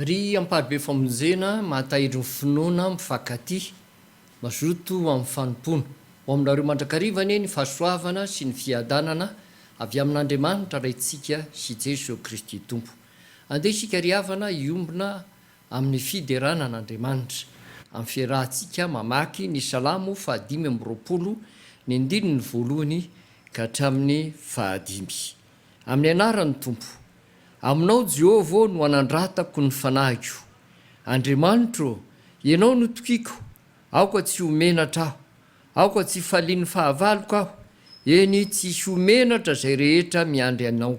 Ry amparibe famonjena, mahatahiry ny finoana, mifankatia, mazoto ho amin'ny fanompoana. Ho aminareo mandrakariva anie ny fahasoavana sy ny fiadanana avy amin'Andriamanitra Raintsika sy Jesoa Kristy Tompo. Andeha isika ry havana hiombona Amin'ny fiderana an'Andriamanitra. Amin'ny fiarahantsika mamaky ny Salamo fahadimy amby roapolo, ny andininy voalohany ka hatramin'ny fahadimy. Amin'ny anaran'ny Tompo. Aminao, Jehovah ô, no anandratako ny fanahiko. Andriamanitro ô, Ianao no tokiko, aoka tsy ho menatra aho. Aoka tsy hifalian'ny fahavaloko aho, eny, tsy hisy ho menatra izay rehetra miandry Anao,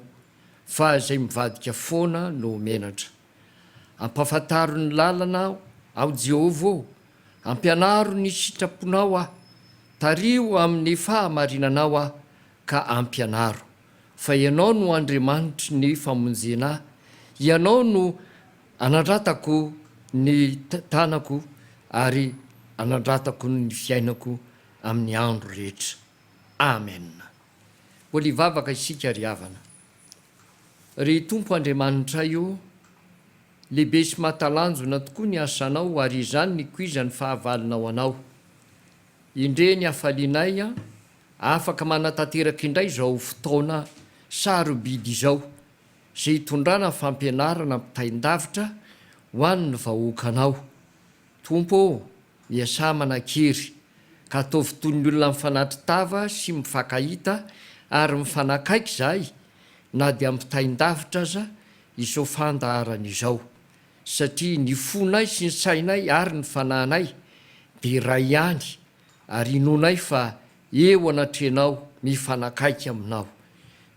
fa izay mivadika foana no ho menatra. Ampahafantaro ny lalana aho, aho Jehovah ô, ampianaro ny sitraponao aho, tariho amin'ny fahamarinanao aho ka ampianaro, fa ianao no Andriamanitry ny famonjena ahy, ianao no anandratako ny tanako ary anandratako ny fiainako amin'ny andro rehetra. Amen. Mbola hivavaka isika ry havana. Ry Tompo Andriamanitray o, lehibe sy mahatalanjona tokoa ny asanao ary izany nikoizan'ny fahavalonao anao. Indrey ny hafalianay afaka manatanteraka indray izao fotoana sarobidy izao izay hitondrana fampianarana ampitain-davitra ho an'ny vahoakanao. Tompo ô, miasà manan-kery, ka ataovy toy ny olona mifanatri-tava sy mifankahita ary mifanakaiky izahay, na dia ampitain-davitra aza izao fandaharana izao, satria ny fonay sy ny sainay ary ny fanahinay dia iray ihany, ary inoanay fa Eo anatrehanao, mifanakaiky aminao.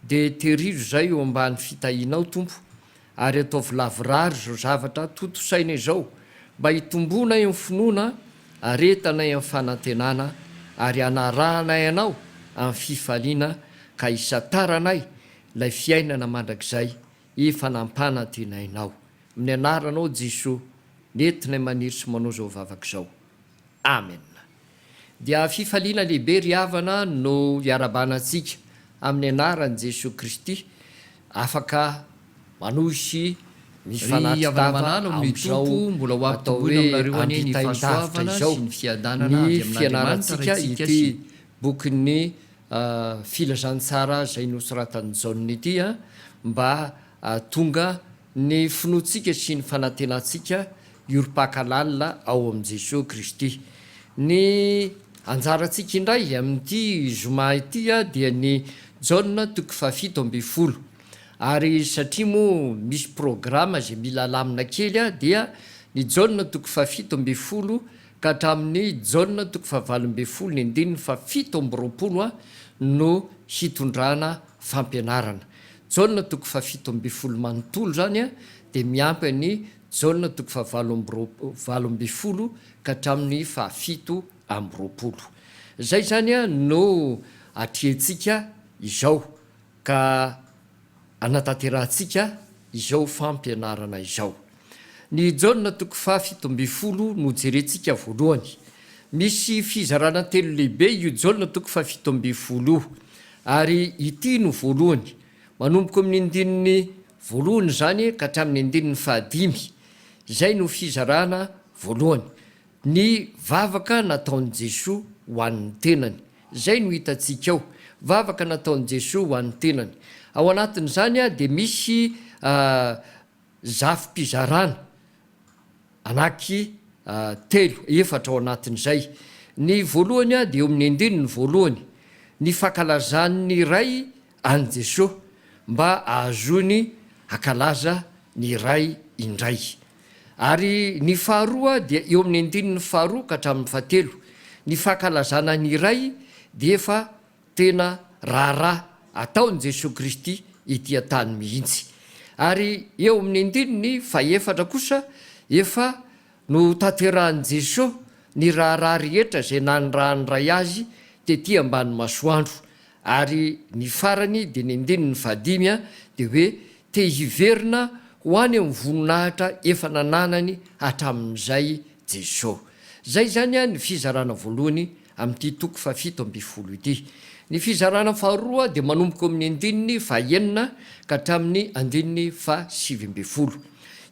Dia terizo izay eo ambany fitahianao, Tompo, ary ataovy lavorary izao zavatra tontosaina izao, mba hitomboanay amin'ny finoana, haretanay amin'ny fanantenana, ary hanarahanay Anao amin'ny fifaliana, ka hisantaranay ilay fiainana mandrakizay efa nampanantenainao. Amin'ny Anaranao Jesoa, nentinay maniry sy manao izao vavaka izao. Amen! Dia fifaliana lehibe ry havana no iarabana antsika amin'ny anaran'i Jesoa Kristy afaka manosy ny fanatitava amin'izao atao hoe ampitain-davitra izao ny fianarantsika ity bokin'ny Filazantsara izay nosoratan'i Jaona ity mba tonga Ny finoantsika sy ny fanantenantsika hiorim-paka lalina ao amin'i Jesoa Kristy. Ny anjarantsika indray amin'ity zoma ity dia ny Jaona toko fahafito ambin'ny folo. Ary satria moa misy programa izay mila alamina kely dia ny Jaona toko fahafito ambin'ny folo ka hatramin'ny Jaona toko fahavalo ambin'ny folo ny andininy fahafito amby roapolo no hitondrana fampianarana. Jaona toko fahafito ambin'ny folo manontolo izany dia miampy an'i Jaona toko fahavalo amby roapolo valo ambin'ny folo ka hatramin'ny fahafito amby roapolo. Izay izany no atrehintsika izao ka anatanterahantsika izao fampianarana izao. Ny Jaona toko faha fito ambin'ny folo no jerentsika voalohany. Misy fizarana telo lehibe io Jaona toko faha fito ambin'ny folo io, ary ity no voalohany, manomboka eo amin'ny andininy voalohany izany ka hatramin'ny andininy faha dimy. Izay no fizarana voalohany, ny vavaka nataon'i Jesoa ho an'ny tenany. Izay no hitantsika ao, vavaka nataon'i Jesoa ho an'ny tenany. Ao anatin'izany dia misy. Zafim-pizarana anaky telo, efatra ao anatin'izay. Ny voalohany dia eo amin'ny andininy voalohany, ny fankalazan'ny Ray an'i Jesoa mba ahazoany hakalaza ny Ray indray. Ary ny faharoa dia eo amin'ny andininy faharoa ka hatramin'ny fahatelo, ny fankalazana ny Ray dia efa Tena raharaha ataon'i Jesoa Kristy ety an-tany mihitsy. Ary eo amin'ny andininy fahefatra kosa, efa notanterahin'i Jesoa ny raharaha rehetra izay nanirahan'ny Ray Azy tety ambany masoandro. Ary ny farany, dia ny andininy fahadimy, dia hoe, Te hiverina ho any amin'ny voninahitra efa nananany hatramin'izay Jesoa. Izay izany ny fizarana voalohany amin'ity toko fahafito ambin'ny folo ity. Ny fizarana faharoa dia manomboka eo amin'ny andininy fahaenina ka hatramin'ny andininy fahasivy ambin'ny folo.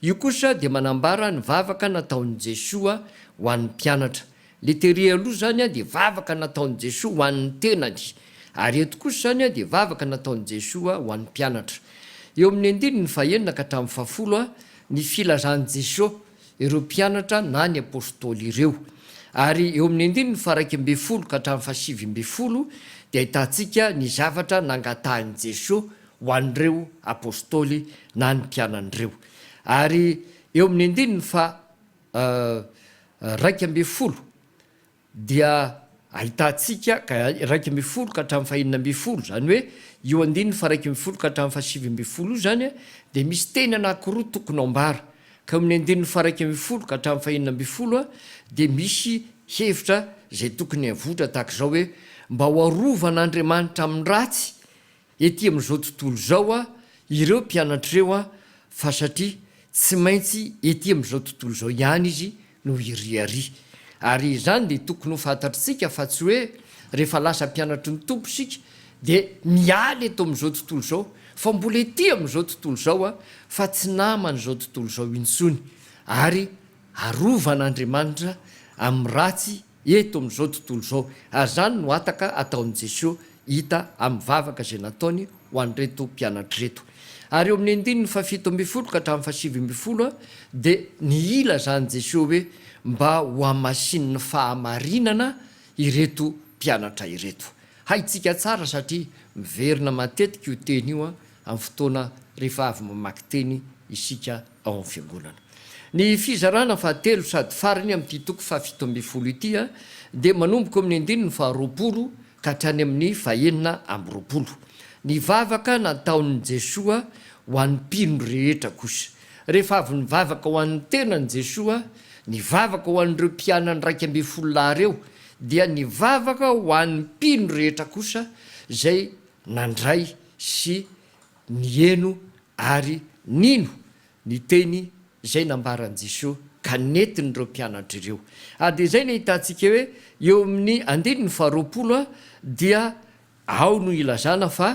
Io kosa dia manambara ny vavaka nataon'i Jesoa ho an'ny mpianatra. Ilay tery aloha izany dia vavaka nataon'i Jesoa ho an'ny tenany, ary eto kosa izany dia vavaka nataon'i Jesoa ho an'ny mpianatra. Eo amin'ny andininy fahaenina ka hatramin'ny fahafolo ny filazan'i Jesoa. ireo mpianatra na ny Apôstôly ireo. Ary eo amin'ny andininy faharaika ambin'ny folo ka hatramin'ny fahasivy ambin'ny folo dia ahitantsika ny zavatra nangatahin'i Jesoa ho an'ireo Apôstôly na ny mpianany ireo. Ary eo amin'ny andininy faha raika ambin'ny folo dia ahitantsika iraika ambin'ny folo ka hatramin'ny fahenina ambin'ny folo, izany hoe io andininy faharaika ambin'ny folo ka hatramin'ny fahasivy ambin'ny folo io izany dia misy teny anankiroa tokony ho ambara, ka eo amin'ny andininy faharaika ambin'ny folo ka hatramin'ny fahenina ambin'ny folo dia misy hevitra izay tokony hivoitra tahaka izao hoe, mba ho arovan'Andriamanitra amin'ny ratsy Ety amin'izao tontolo izao a ireo mpianatra ireo a fa satria tsy maintsy ety amin'izao tontolo izao ihany izy no hiriaria. Ary izany dia tokony ho fantatr'tsika fa tsy hoe rehefa lasa mpianatry ny Tompo isika dia miala eto amin'izao tontolo izao fa mbola ety amin'izao tontolo izao a fa tsy naman'izao tontolo izao intsony ary arovan'Andriamanitra amin'ny ratsy Eto amin'izao tontolo izao, azany no hataka ataon'i Jesoa hita amin'ny vavaka izay nataony ho an'ireto mpianatra ireto. Ary eo amin'ny andininy fahafito ambin'ny folo ka hatramin'ny fahasivy ambin'ny folo dia ny ilazan'i Jesoa hoe mba hohamasinin'ny fahamarinana ireto mpianatra ireto. Haintsika tsara satria miverina matetika io teny io amin'ny fotoana rehefa avy mamaky teny isika. ao amin'ny Fiangonana. Ny fizarana fahatelo sady farany amin'ity toko fahafito ambin'ny folo ity dia manomboka ao amin'ny andininy faharoapolo ka hatrany amin'ny fahenina amby roapolo. Ny vavaka nataon'i Jesoa ho an'ny mpino rehetra kosa. Rehefa avy nivavaka ho an'ny tenany Jesoa, nivavaka ho an'ireo mpianany iraika ambin'ny folo lahy ireo, dia nivavaka ho an'ny mpino rehetra kosa izay nandray sy. Niheno ary nino ny teny izay nambaran'i Jesoa ka nentin'ireo mpianatra ireo. Ary dia izay no ahitantsika hoe eo amin'ny andininy faharoapolo dia ao no ilazana fa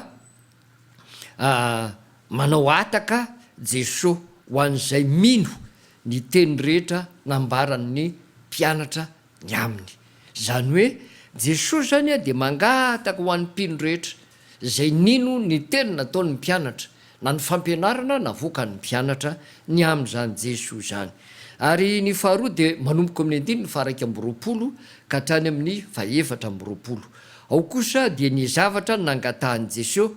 manao hataka Jesoa ho an'izay mino ny teny rehetra nambaran'ny mpianatra ny aminy. Izany hoe Jesosy izany dia mangataka ho an'ny mpino rehetra izay nino ny teny nataon'ny mpianatra na ny fampianarana navoakan'ny mpianatra ny amin'izany Jesosy izany. Ary ny faharoa dia manomboka amin'ny andininy faharaika amby roapolo ka hatrany amin'ny fahefatra amby roapolo. Ao kosa dia ny zavatra nangatahan'i Jesosy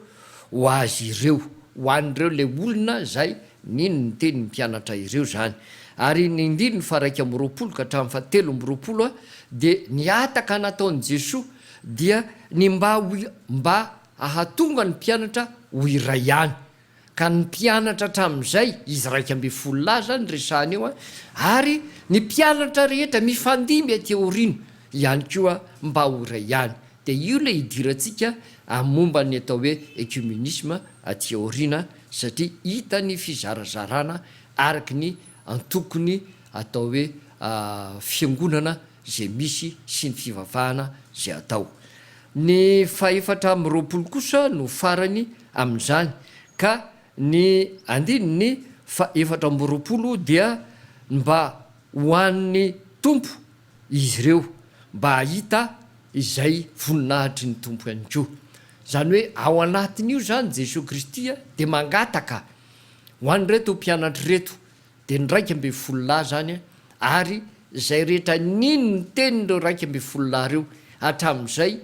ho azy ireo, ho an'ireo ilay olona izay Nino ny teny ny mpianatra ireo izany. Ary ny andininy faha-iraika amby roapolo ka hatramin'ny faha-telo amby roapolo dia ny hataka nataon'i Jesoa dia ny mba ho mba hahatonga ny mpianatra ho iray ihany. Ka ny mpianatra hatramin'izay, izy iraika ambin'ny folo lahy izany resahina eo, ary ny mpianatra rehetra mifandimby aty aoriana ihany koa mba ho iray ihany. Dia io ilay idirantsika amin'ny momba ny atao hoe ecumenisme aty aoriana. satria hita ny fizarazarana araka ny antokony atao hoe fiangonana izay misy sy ny fivavahana izay atao. Ny fahefatra amby roapolo kosa no farany amin'izany ka ny andininy faha efatra amby roapolo dia mba ho an'ny Tompo izy ireo mba hahita izay voninahitry ny Tompo ihany koa. Izany hoe ao anatin'io izany Jesoa Kristy dia mangataka ho an'ireto mpianatra ireto, dia ny iraika ambin'ny folo lahy izany ary izay rehetra nino ny tenin'ireo iraika ambin'ny folo lahy ireo hatramin'izay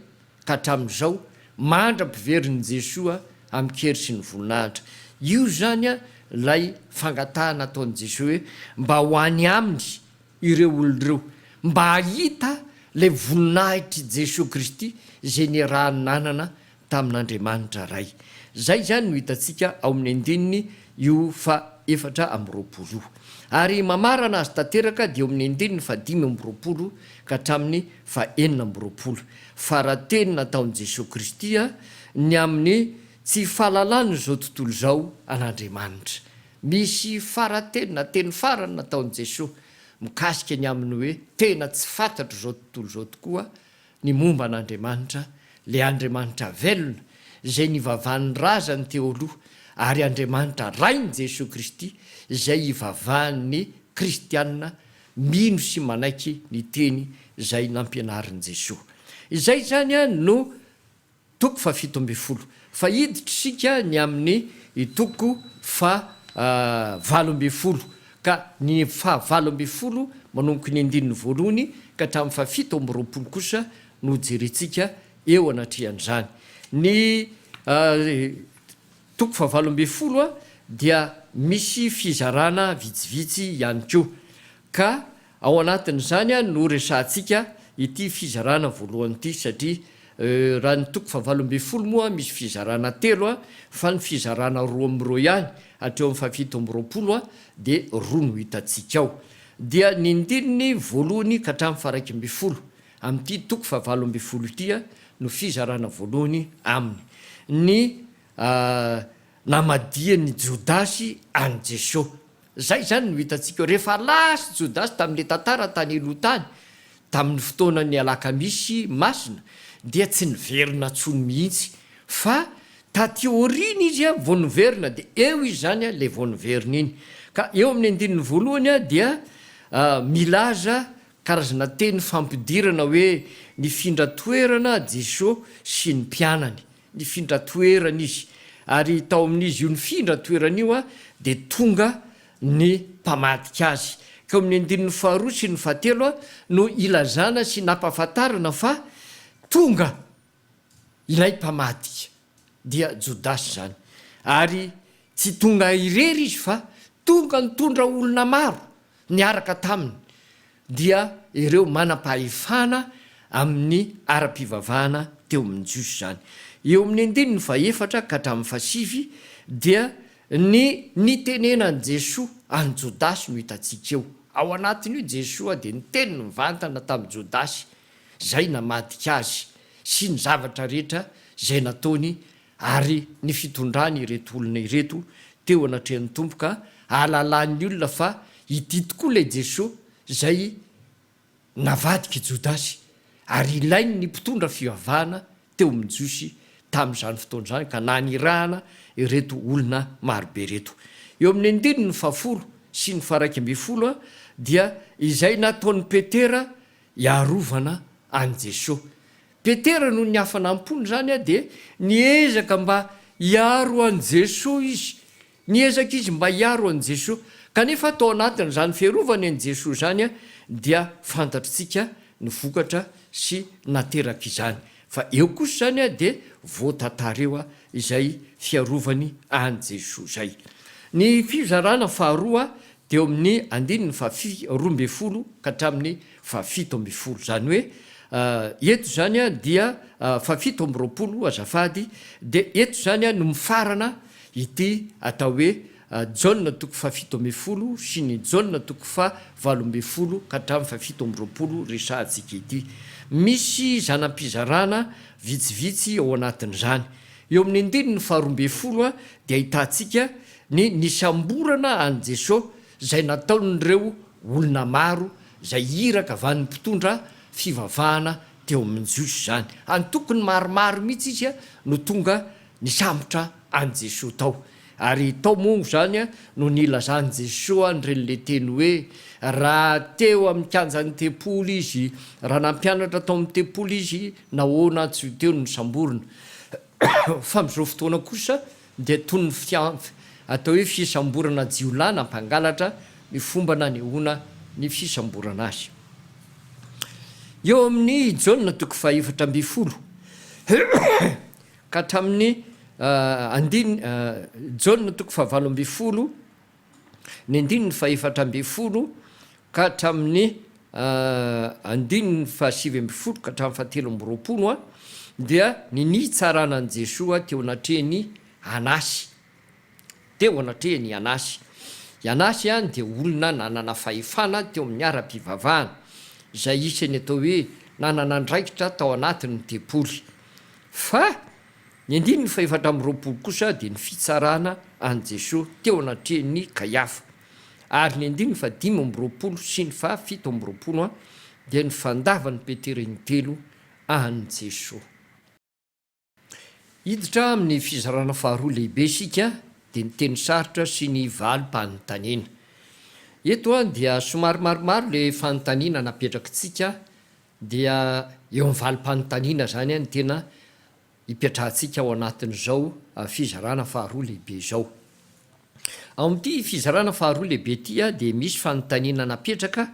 ka hatramin'izao mandra-piverin'i Jesoa amin-kery sy ny voninahitra. Io izany ilay fangatahana ataon'i Jesoa hoe mba ho any Aminy ireo olona ireo mba hahita ilay voninahitr'i Jesoa Kristy izay niaraha-nanana tamin'Andriamanitra Ray. Izay izany no hitantsika ao amin'ny andininy io faha-efatra amby roapolo io. Ary mamarana azy tanteraka dia eo amin'ny andininy fahadimy amby roapolo ka hatramin'ny fahenina amby roapolo. Fara-teny nataon'i Jesoa Kristy ny amin'ny tsy fahalalan'izao tontolo izao an'Andriamanitra. Misy fara-teny na teny farany nataon'i Jesoa mikasika ny amin'ny hoe tena tsy fantatr'izao tontolo izao tokoa ny momba an'Andriamanitra, ilay Andriamanitra velona izay nivavahan'ny razany teo aloha ary Andriamanitra Rain'i Jesoa Kristy izay ivavahan'ny kristiana mino sy manaiky ny teny izay nampianarin'i Jesoa. Izay izany no. Toko fahafito ambin'ny folo. Fa hiditra isika ny amin'ny toko fahavalo ambin'ny folo, ka ny fahavalo ambin'ny folo manomboka ny andininy voalohany ka hatramin'ny fahafito amby roapolo kosa no hojerentsika eo anatrehan'izany. Ny toko fahavalo ambin'ny folo dia misy fizarana vitsivitsy ihany koa, ka Ao anatin'izany no horesahantsika ity fizarana voalohany ity satria raha ny toko fahavalo ambin'ny folo moa misy fizarana telo fa ny fizarana roa amby roa ihany hatreo amin'ny fahafito amby roapolo dia roa no hitantsika ao. Dia ny ndininy voalohany ka hatramin'ny faharaika ambin'ny folo amin'ity toko fahavalo ambin'ny folo ity no fizarana voalohany aminy. Ny namadihany Jodasy an'i Jesoa. Izay izany no hitantsika eo. Rehefa lasa i Jodasy tamin'ilay tantara tany aloha tany, tamin'ny fotoanan'ny Alakamisy Masina, dia tsy niverina intsony mihitsy, fa taty aoriana izy vao niverina, dia eo izany ilay vao niverina iny. Ka eo amin'ny andininy voalohany dia milaza karazana teny fampidirana hoe, nifindra toerana Jesosy sy ny mpianany. Nifindra toerana izy, ary tao amin'izy io nifindra toerana io dia tonga ny mpamadika azy. Ka eo amin'ny andininy faharoa sy ny fahatelo no ilazana sy nampahafantarana fa tonga ilay mpamadika, dia Jodasy izany. Ary tsy tonga irery izy fa tonga nitondra olona maro, Niaraka taminy dia ireo manam-pahefana amin'ny ara-pivavahana teo amin'ny Jiosy izany. Eo amin'ny andininy fahefatra ka hatramin'ny fahasivy dia ny nitenenan'i Jesoa an'i Jodasy no hitantsika eo. Ao anatin'io Jesoa dia niteny nivantana tamin'i Jodasy izay namadika Azy sy ny zavatra rehetra izay nataony Ary ny fitondran' ireto olona ireto teo anatrehan' ny Tompo ka ahalalan' ny olona fa ity tokoa ilay Jesoa izay navadika i Jodasy, ary ilain' ny mpitondra fivavahana teo amin' ny Jiosy tamin' izany fotoana izany ka nanirahana ireto olona maro be ireto. Eo amin' ny andininy fahafolo sy ny faharaika ambin'ny folo dia izay nataon' i Petera hiarovana an' i Jesoa. Petera noho ny hafanam-pony izany dia niezaka mba hiaro an'i Jesoa izy. Niezaka izy mba hiaro an'i Jesoa. Kanefa tao anatin'izany fiarovany an'i Jesoa izany dia fantatritsika ny vokatra sy naterak'izany. Fa eo kosa izany dia voatantara eo izay fiarovany an'i Jesoa izay. Ny fizarana faharoa dia eo amin'ny andininy faha roa ambin'ny folo ka hatramin'ny fahafito ambin'ny folo, izany hoe eto izany dia fahafito amby roapolo azafady, dia eto izany no mifarana ity atao hoe Jaona toko fahafito ambin'ny folo sy ny Jaona toko faha valo ambin'ny folo ka hatramin'ny fahafito amby roapolo resahantsika ity. Misy zana-pizarana vitsivitsy ao anatin'izany. Eo amin'ny andininy faharoa ambin'ny folo dia ahitantsika ny nisamborana an'i Jesoa, izay nataon'ireo olona maro izay iraka avy any mpitondra fivavahana teo amin'ny Jiosy izany. Antokony maromaro mihitsy izy no tonga nisambotra an'i Jesoa tao. Ary tao moa izany no nilazan'i Jesoa an'ireny le teny hoe, raha teo amin'ny kianjan'ny tempoly izy, raha nampianatra tao amin'ny tempoly izy, nahoana tsy ho teo no nisamborina? Fa amin'izao fotoana kosa dia toy ny fianf atao hoe fisamborana jiolahy na mpangalatra ny fomba nanehoana ny fisamborana azy. Eo amin'ny Jaona toko fahefatra ambin'ny folo ka hatramin'ny andin Jaona toko fahavalo ambin'ny folo ny andininy fahefatra ambin'ny folo ka hatramin'ny andininy fahasivy ambin'ny folo ka hatramin'ny fahatelo amby roapolo dia ny nitsarana an'i Jesoa teo anatrehin'i Anasy, teo anatrehin'i Anasy. I Anasy dia olona nanana fahefana teo amin'ny ara-pivavahana, izay isan'ny atao hoe nanana andraikitra tao anatin'ny tempoly. Fa Ny andininy fahefatra amby roapolo kosa dia ny fitsarana an'i Jesoa teo anatrehan'i Kaiafa, ary ny andininy fahadimy amby roapolo sy ny fahafito amby roapolo dia ny fandavan'i Petera intelo an'i Jesoa. Hiditra amin'ny fizarana faharoa lehibe isika, dia ny teny sarotra sy ny valim-panontaniana. Eto dia somary maromaro ilay fanontaniana napetrakitsika Dia eo amin'ny valim-panontaniana izany no tena ipetrahantsika ao anatin'izao fizarana faharoa lehibe izao. Ao amin'ity fizarana faharoa lehibe ity dia misy fanontaniana napetraka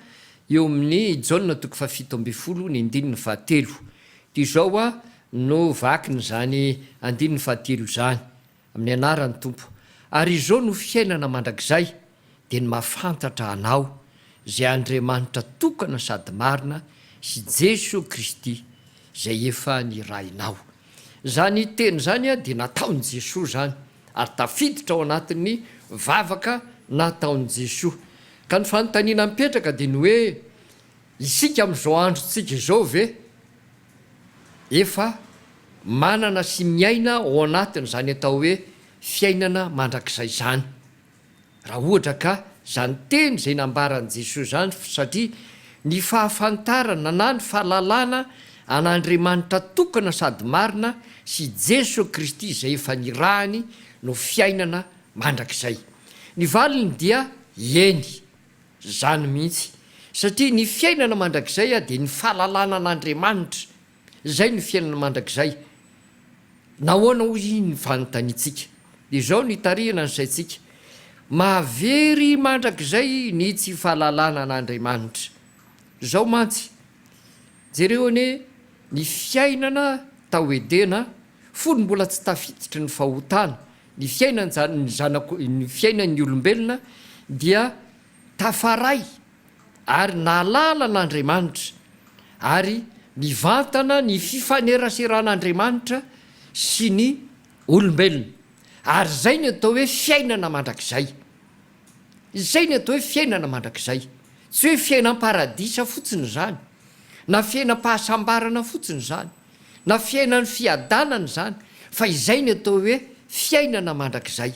eo amin'ny Jaona toko fahafito ambin'ny folo ny andininy fahatelo. Dia izao no vakin'izany andininy fahatelo izany. Amin'ny anaran'ny Tompo. Ary izao no fiainana mandrakizay, dia ny mahafantatra Anao, izay Andriamanitra tokana sady marina, sy Jesoa Kristy, izay efa nirahinao. Izany teny izany dia nataon'i Jesoa izany, ary tafiditra ao anatin'ny vavaka nataon'i Jesoa. Ka ny fanontaniana mipetraka dia ny hoe, isika amin'izao androntsika izao ve efa manana sy miaina ao anatin'izany atao hoe fiainana mandrakizay izany, raha ohatra ka izany teny izay nambaran'i Jesoa izany, satria ny fahafantarana na ny fahalalana an'Andriamanitra tokana sady marina sy Jesoa Kristy izay efa nirahany no fiainana mandrakizay. Ny valiny dia eny. Izany mihitsy, satria ny fiainana mandrakizay dia ny fahalalana an'Andriamanitra, izay no fiainana mandrakizay. Nahoana hoy iny fanontaniantsika? Izao no itarihana ny saintsika, Mahavery mandrakizay ny tsy fahalalana an'Andriamanitra. Izao mantsy, jereo anie ny fiainana tao Edena Fony mbola tsy tafiditry ny fahotana ny fiainan'ny zanako, ny fiainan'ny olombelona, dia tafaray ary nahalala an'Andriamanitra, ary mivantana ny fifaneraseran'Andriamanitra sy ny olombelona. Ary izay no atao hoe fiainana mandrakizay. Izay no atao hoe fiainana mandrakizay. Tsy hoe fiainam-paradisa fotsiny izany, na fiainam-pahasambarana fotsiny izany. Na fiainan'ny fiadanana izany, fa izay ny atao hoe fiainana mandrakizay,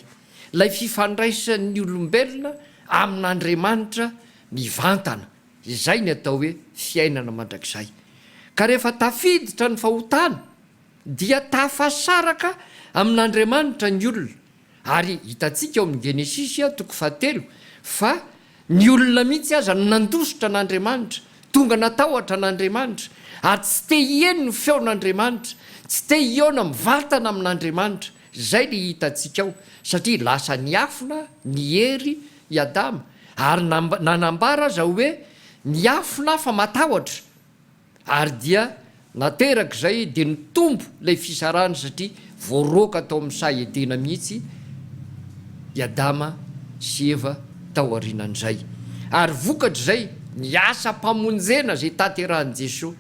ilay fifandraisan'ny olombelona amin'Andriamanitra mivantana, izay ny atao hoe fiainana mandrakizay. Ka rehefa tafiditra ny fahotana, dia tafasaraka amin'Andriamanitra ny olona. Ary hitantsika ao amin'ny Genesisy, toko fahatelo, fa ny olona mihitsy aza no nandositra an'Andriamanitra, tonga natahotra an'Andriamanitra, ary tsy te hieno ny feon'Andriamanitra, tsy te hihaona mivantana amin'Andriamanitra. Izay ilay hitantsika ao, satria lasa niafina ny hery i Adama, ary na nanambara aza hoe, Miafina aho fa matahotra. Ary dia naterak'izay dia nitombo ilay fisarahana satria voaroaka tao amin'ny saha Edena mihitsy i Adama sy Eva tao aorianan'izay. Ary vokatr'izay, ny asam-pamonjena izay tanterahin'i Jesoa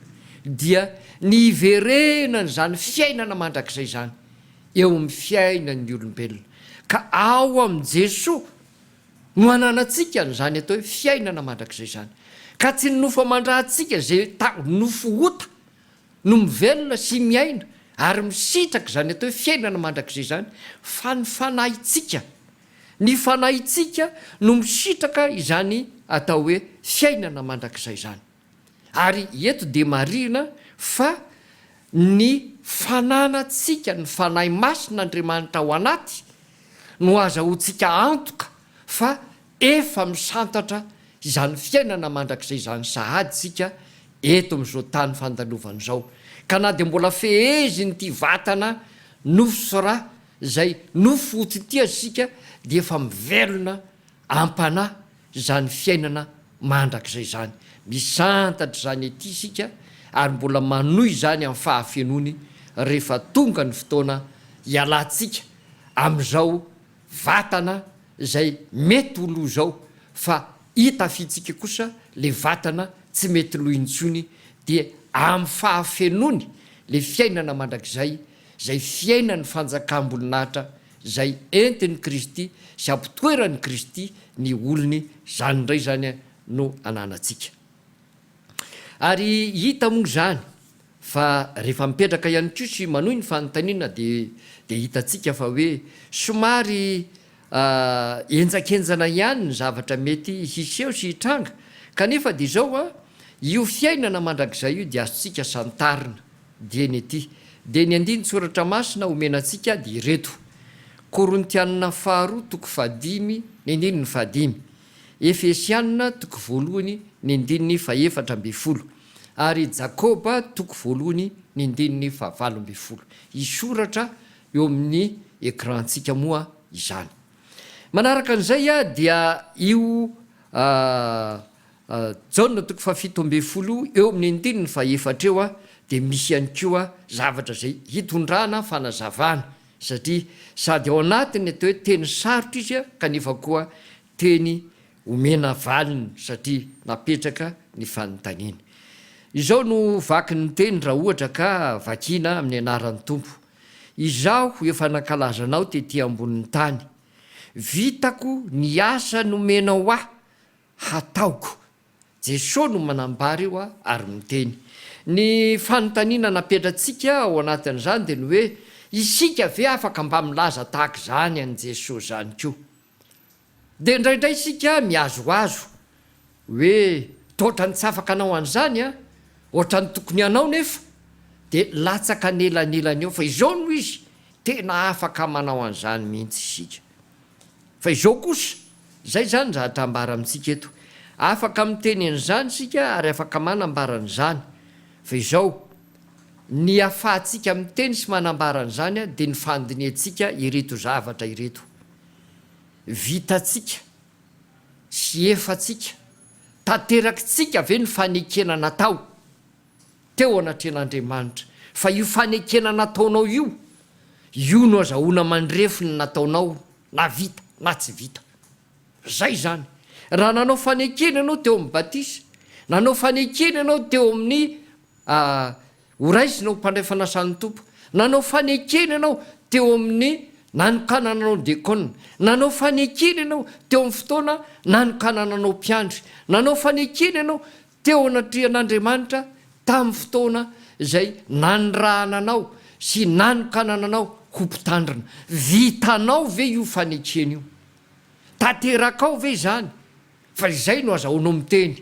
dia ny hiverenan'izany fiainana mandrakizay izany eo amin'ny fiainan'ny olombelona. Ka ao amin'i Jesoa. No ananantsika an'izany atao hoe fiainana mandrakizay izany, ka tsy ny nofo aman-drahantsika izay nofo ota no mivelona sy miaina ary misitraka izany atao hoe fiainana mandrakizay izany, fa ny fanahintsika. Ny fanahintsika no misitraka izany atao hoe fiainana mandrakizay izany. Ary eto dia marihina fa ny fananantsika ny Fanahy Masin' Andriamanitra ao anaty no azahoantsika antoka fa efa misantatra izany fiainana mandrakizay izany sahady isika eto amin' izao tany fandalovana izao ka na dia mbola fehezin' ity vatana nofo sy ra izay nofo ho tsy tia isika dia efa mivelona am-panahy izany fiainana mandrakizay izany. Misantatra izany ety isika ary mbola manohy izany amin'ny fahafenoany rehefa tonga ny fotoana hialantsika amin'izao vatana izay mety ho lo izao fa hitafiantsika kosa ilay vatana tsy mety lo intsony dia amin'ny fahafenoany ilay fiainana mandrakizay izay fiainan'ny fanjakam-boninahitra izay entin'i Kristy sy ampitoeran'i Kristy ny olony, izany indray izany no ananantsika. Ary hita moa izany fa rehefa mipetraka ihany koa sy manohy ny fanontaniana dia dia hitantsika fa hoe somary henjakenjana ihany ny zavatra mety hiseho sy hitranga kanefa dia izao an, io fiainana mandrakizay io dia azontsika santarina Dieny ity. Dia ny andinin-tsoratra masina omena antsika dia ireto, Korintianina faharoa toko fahadimy ny andininy fahadimy, Efesianina toko voalohany ny andininy fahefatra ambin'ny folo, ary Jakoba toko voalohany ny andininy fahavalo ambin'ny folo. Hisoratra eo amin'ny écran-ntsika moa izany. Manaraka an'izay dia io A Jaona toko fahafito ambin'ny folo eo amin'ny andininy fahaefatra eo dia misy ihany koa zavatra izay hitondrana fanazavana satria sady ao anatin'ny atao hoe teny sarotra izy kanefa koa teny omena valiny satria napetraka ny fanontaniana. Izao no vaky ny teny raha ohatra ka vakiana amin'ny anaran'ny Tompo, Izaho efa nankalaza anao tety ambonin'ny tany, vitako ny asa nomenao ahy hataoko. Jesoa no manambara io ary miteny. Ny fanontaniana napetratsika ao anatin'izany dia ny hoe, isika ve afaka mba milaza tahaka izany an'i Jesoa izany koa? Dia indraindray isika mihazohazo hoe, totrany tsy afaka anao an'izany an! Otrany tokony hanao nefa! Dia latsaka an'elanelany eo fa izao no izy, tena afaka manao an'izany mihitsy isika. Fa izao kosa, izay izany raha ta ambara amintsika eto. Afaka miteny an'izany isika ary afaka manambara an'izany. Fa izao, ny ahafahantsika miteny sy manambara an'izany dia ny fandinihantsika ireto zavatra ireto. Vitantsika sy efantsika. Tanterakitsika ve ny fanekena natao? teo anatrehan'Andriamanitra, fa io fanekena nataonao io, io no azahoana mandrefy ny nataonao na vita na tsy vita. Izay izany. Raha nanao fanekena ianao teo amin'ny batisa, nanao fanekena ianao teo amin'ny ho raisina ho mpandray fanasan'ny Tompo, nanao fanekena ianao teo amin'ny nanokanana anao diakona, nanao fanekena ianao teo amin'ny fotoana nanokanana anao mpiandry, nanao fanekena ianao Teo anatrehan'Andriamanitra tamin'ny fotoana izay nanirahana anao sy nanokanana anao ho mpitandrina. Vitanao ve io fanekena io? Tanterakao ve izany? Fa izay no azahoanao miteny.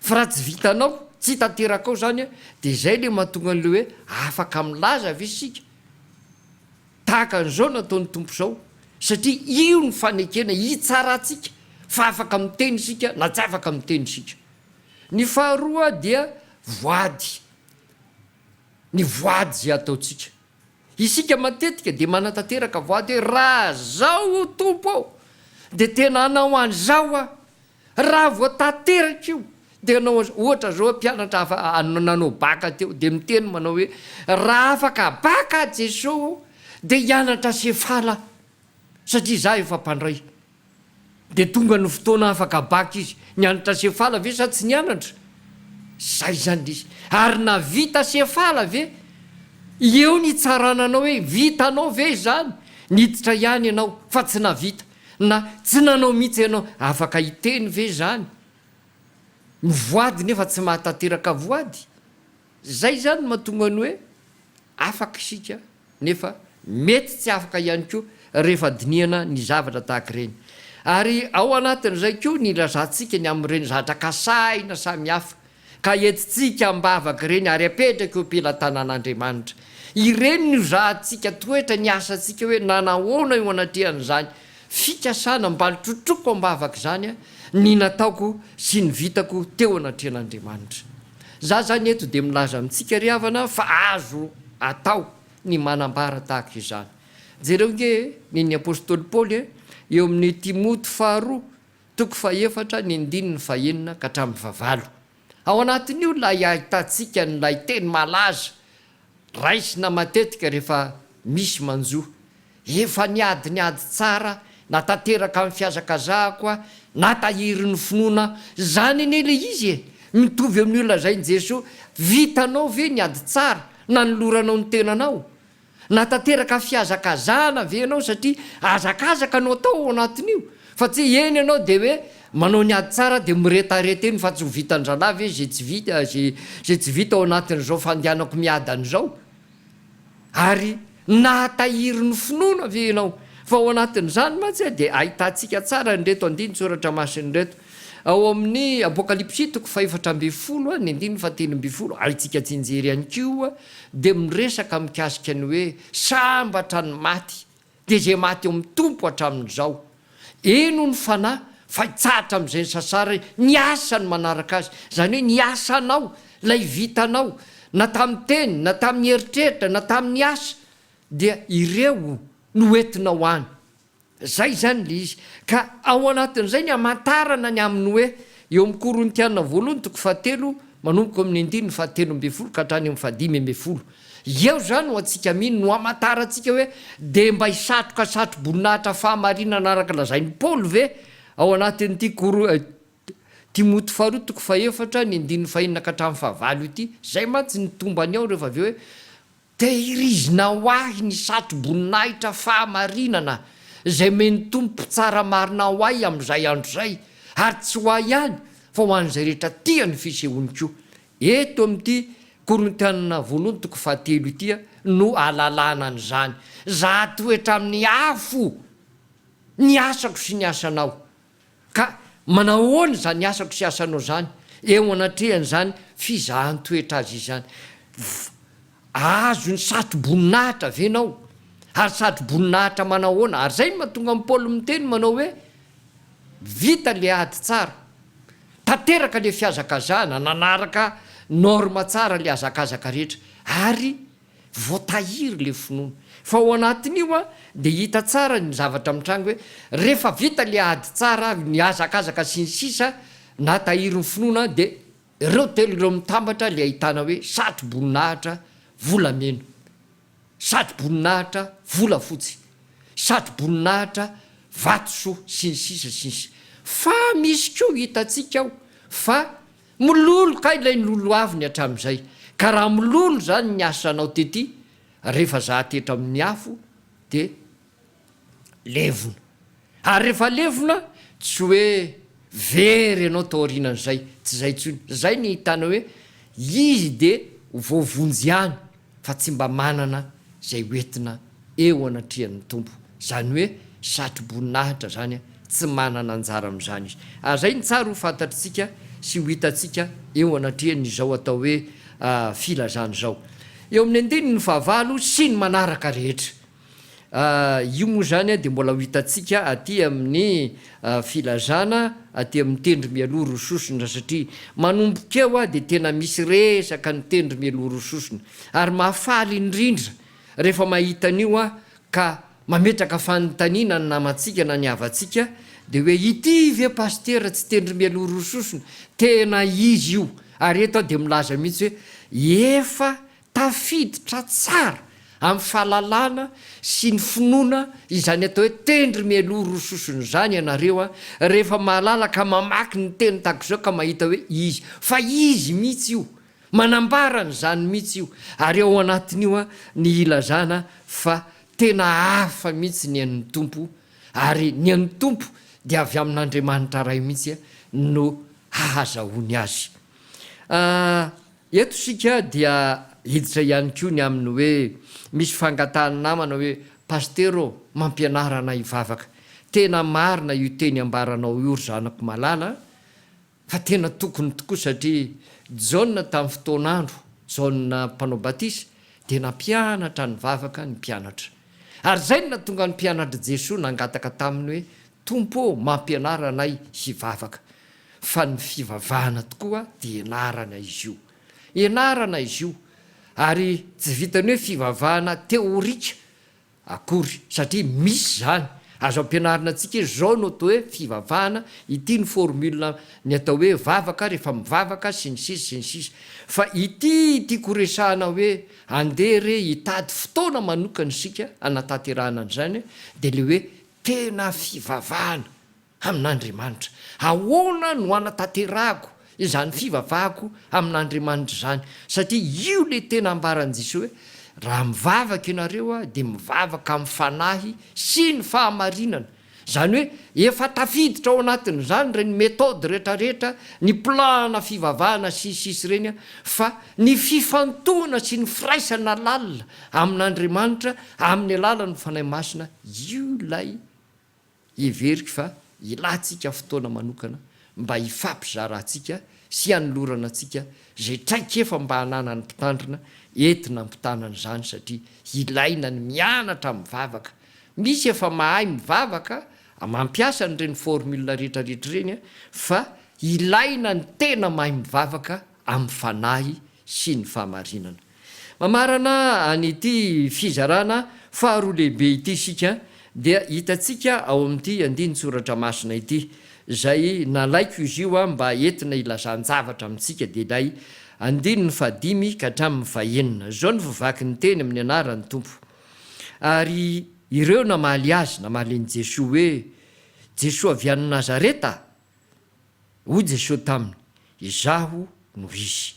Fa raha tsy vitanao, tsy tanterakao izany dia izay ilay mahatonga an'ilay hoe afaka milaza ve isika? Tahaka an'izao nataon'ny Tompo izao, satria io ny fanekena hitsarantsika fa afaka miteny isika na tsy afaka miteny isika. Ny faharoa dia voady, ny voady izay ataontsika. Isika matetika dia manatanteraka voady hoe raha zao o Tompo ô, dia tena hanao an'izao aho. Raha vao tanteraka io dia anao ohatra zao mpianatra afa nanao baka teo dia miteny manao hoe raha afaka baka aho Jeso ô dia hianatra sefala aho satria za efa mpandray dia tonga ny fotoana afaka baka izy nianatra sefala ve sa tsy nianatra zay zany le izy ary navita sefala ve eo ny hitsarana anao hoe vitanao ve izany niditra ihany ianao fa tsy navita Na tsy nanao mihitsy ianao, afaka hiteny ve izany? Mivoady nefa tsy mahatanteraka voady? Izay izany no mahatonga ny hoe afaka isika nefa mety tsy afaka ihany koa rehefa dinihana ny zavatra tahaka ireny. Ary ao anatin'izay koa ny ilazantsika ny amin'ireny zatra kasahina samihafa ka entintsika am-bavaka ireny ary apetraka eo am-pelatanan'Andriamanitra. Ireny no zahantsika toetra ny asantsika hoe nanahoana eo anatrehan'izany fikasana mbalotsotroko am-bavaka izany ny nataoko sy ny vitako teo anatrehan'Andriamanitra. Za izany eto dia milaza amintsika ry havana fa azo atao ny manambara tahaka izany. Jereo nge ny ny apostoly Paoly eo amin'ny Timoty faharoa Toko fahefatra ny andininy fahenina ka hatramin'ny fahavalo. Ao anatin'io ilay ahitantsika an'ilay teny malaza raisina matetika rehefa misy manjo, Efa niady ny ady tsara, natateraka ny fihazakazahako aho, natahiry ny finoana. Izany anie ilay izy e! Mitovy amin'io lazain'i Jesoa, Vitanao ve ny ady tsara? Nanoloranao ny tenanao? Natanteraka fihazakazahana ve ianao satria hazakazaka no atao ao anatin'io? Fa tsy hoe eny ianao dia hoe manao ny ady tsara dia miretareta eny fa tsy ho vitan-drahalahy ve izay tsy vita, izay tsy vita ao anatin'izao fandehanako miadana izao? Ary nahatahiry ny finoana ve ianao? Fa ao anatin'izany mantsy dia ahitantsika tsara an'ireto andinin-tsoratra masina ireto, Ao amin'ny Apokalypsy toko fahefatra ambin'ny folo ny andininy fahatelo ambin'ny folo alintsika jenjery ihany koa dia miresaka mikasika ny hoe sambatra ny maty dia izay maty ao amin'ny Tompo hatramin'izao. Eny hoy ny fanahy fa hitsahatra amin'izay ny sasarany ny asany manaraka azy, izany hoe ny asanao, ilay vitanao na tamin'ny teny na tamin'ny eritreritra na tamin'ny asa dia ireo no hoentinao any. Izay izany ilay izy. Ka ao anatin'izay ny hamantarana ny amin'ny hoe, eo amin'ny Korintiana voalohany toko fahatelo, manomboka ao amin'ny andininy fahatelo ambin'ny folo ka hatrany amin'ny fahadimy ambin'ny folo. Eo izany no antsika mino, no hamantarantsika hoe, dia mba hisatroka satroboninahitra fahamarinana araka lazain'i Paoly ve ao anatin'ity Koro, Timoty faharoa toko fahefatra ny andininy fahenina ka hatramin'ny fahavalo ity? Izay mantsy ny tombany ao rehefa avy eo hoe, Tehirizina ho ahy ny satroboninahitra fahamarinana izay omen'ny Tompo tsara marina ho ahy amin'izay andro izay, ary tsy ho ahy ihany fa ho an'izay rehetra tia ny fisehoany koa. Eto amin'ity Korintiana voalohany toko fahatelo ity no ahalalana an'izany. Zahatoetra amin'ny afo ny asako sy ny asanao. Ka manahoana izany asako sy asanao izany eo anatrehan'izany fizahan-toetra azy izany? Fa azony satroboninahitra ve ianao? Ary satroboninahitra manahoana? Ary izay no mahatonga an'i Paoly miteny manao hoe, Vita ilay ady tsara. Tanteraka ilay fihazakazahana, nanaraka norme tsara ilay hazakazaka rehetra. Ary. Voatahiry ilay finoana. Fa ao anatin'io dia hita tsara ny zavatra mitranga hoe rehefa vita ilay ady tsara, nihazakazaka sy ny sisa na tahirin'ny finoana dia ireo telo ireo mitambatra ilay ahitana hoe satro-boninahitra volamena, satro-boninahitra volafotsy, satro-boninahitra vatosoa sy ny sisa sy ny sisa. Fa misy koa hitantsika ao fa. Mololo kay ilay noloaviny hatramin'izay, ka raha mololo izany ny asanao tety, rehefa zahàty eto amin'ny afo dia levona. Ary rehefa levona, tsy hoe very ianao taorianan'izay, tsy izay intsony. Izay ny ahitana hoe izy dia ho voavonjy ihany, fa tsy mba manana izay hoentina eo anatrehan'ny Tompo, izany hoe satroboninahitra izany, tsy manana anjara amin'izany izy. Ary izay no tsara ho fantatritsika sy ho hitantsika eo anatrehan'izao atao hoe filazana izao eo amin'ny andininy fahavalo sy ny manaraka rehetra. Io moa izany dia mbola ho hitantsika aty amin'ny filazana aty amin'ny tendro mialoha roa sosona satria manomboka eo dia tena misy resaka ny tendro mialoha roa sosona ary mahafaly indrindra rehefa mahita an'io aho ka mametraka fanontaniana ny namantsika na ny havantsika dia hoe ity ve pasitera tsy tendro mialoha roa sosona? Tena izy io ary eto aho dia milaza mihitsy hoe efa Tafiditra tsara amin'ny fahalalana sy ny finoana izany atao hoe tendry mialoha roa sosona izany ianareo a, rehefa mahalala ka mamaky ny teny tahaka izao ka mahita hoe izy, fa izy mihitsy io, manambara an'izany mihitsy io, ary ao anatin'io a ny hilazana fa tena hafa mihitsy ny an'ny Tompo, ary ny an'ny Tompo dia avy amin'Andriamanitra Ray mihitsy no hahazahoany azy. A. Eto isika dia hiditra ihany koa ny amin'ny hoe misy fangatahan'ny namana hoe, Pasitera ô, mampianara anay hivavaka. Tena marina io teny ambaranao io ry zanako malala fa tena tokony tokoa satria Jaona tamin'ny fotoan'andro, Jaona mpanao batisa, dia nampianatra ny vavaka ny mpianatra. Ary izay no nahatonga ny mpianatr'i Jesoa nangataka taminy hoe, Tompo ô mampianara anay hivavaka fa ny fivavahana tokoa dia enarana izy io enarana izy io ary tsy vitan'ny hoe fivavahana teorika akory satria misy izany azo ampianarina antsika hoe izao no atao hoe fivavahana ity ny formule ny atao hoe vavaka rehefa mivavaka sy ny sisa sy ny sisa fa ity tiako horesahana hoe andeha re hitady fotoana manokana isika hanatanterahana an'izany dia ilay hoe Tena fivavahana amin'Andriamanitra. Ahoana no hanatanterahako izany fivavahako amin'Andriamanitra izany? Satria io ilay tena ambaran'i Jesoa hoe, Raha mivavaka ianareo dia mivavaka amin'ny fanahy sy ny fahamarinana. Izany hoe efa tafiditra ao anatin'izany ireny méthode rehetrarehetra, ny plan-na fivavahana sy ny sisa ireny fa ny fifantohana sy ny firaisana lalina amin'Andriamanitra amin'ny alalan'ny Fanahy Masina io ilay heveriko fa ilantsika fotoana manokana mba hifampizarantsika sy hanolorana antsika izay traikefa mba hananan'ny mpitandrina entina hampitana an'izany satria ilaina ny mianatra mivavaka misy efa mahay mivavaka mampiasa an'ireny formule rehetrarehetra ireny fa ilaina ny tena mahay mivavaka amin'ny Fanahy sy ny fahamarinana. Mamarana an'ity fizarana faharoa lehibe ity isika dia hitantsika ao amin'ity andinin-tsoratra masina ity, izay nalaiko izy io mba entina ilazan-javatra amintsika dia ilay andininy fahadimy ka hatramin'ny fahenina. Izao no voavaky ny teny amin'ny anaran'ny Tompo, Ary ireo namaly Azy, namaly an'i Jesoa hoe, Jesoa avy any Nazareta Hoy Jesoa taminy, Izaho no izy.